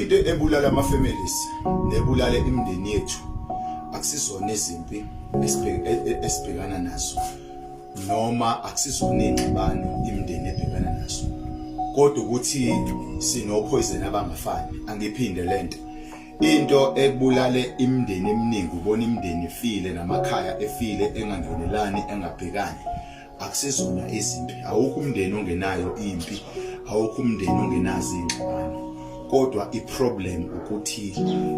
Into ebulala ama families nebulale imindeni yethu akusizona izimpi esibhekana nazo noma akusizona ingxabano imindeni ebhekana nazo kodwa ukuthi sinophoyizeni abangafani angiphinde lento into ebulale imindeni eminingi ubona imindeni ifile namakhaya efile engangenelani engabhekani akusizona izimpi awukho umndeni ongenayo impi awukho umndeni ongenazo ingxabano kodwa iproblem ukuthi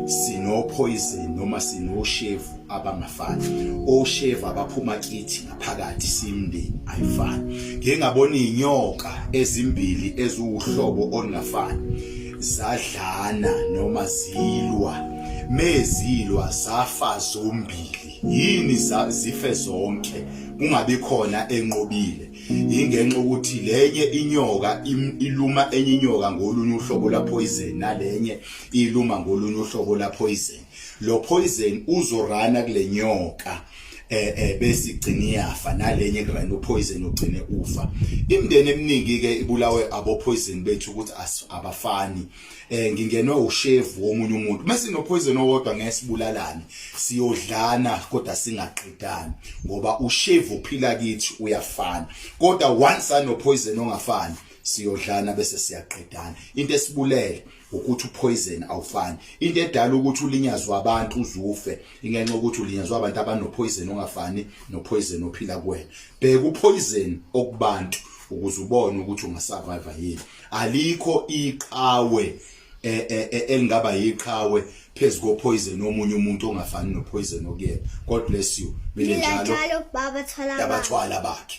sinophoyizeni noma sinoshevu abangafani oshevu abaphuma kithi ngaphakathi simndeni ayifani ngeke ngabona inyoka ezimbili eziwuhlobo olungafani zadlana noma zilwa mezilwa zafa zombili yini zife zonke kungabi khona enqobile ingenxa ukuthi lenye inyoka iluma enye inyoka ngolunye uhlobo la poison nalenye iluma ngolunye uhlobo la poison lo poison uzorana kule nyoka eh, eh bese igcina iyafa nalenye kurana upoison ugcine ufa imndeni eminingi ke ibulawe abo poison bethu ukuthi abafani eh ngingenwe ushevu womunye umuntu mase nopoison owodwa ngesibulalane siyodlana kodwa singaqedani ngoba ushevu uphila kithi uyafana kodwa once anopoison ongafani siyodlana bese siyaqedana into esibulele ukuthi upoison awufani into edala ukuthi ulinyazwe abantu uzufe ingenxa ukuthi ulinyazwe abantu abanopoison ongafani nopoison ophila kuwena bheka upoison okubantu ukuze ubone ukuthi ungasurvive yini alikho iqhawe eh, eh, eh, elingaba yiqhawe phezu kopoison omunye umuntu ongafani nopoison okuyena god bless you mina njalo yabathwala bakhe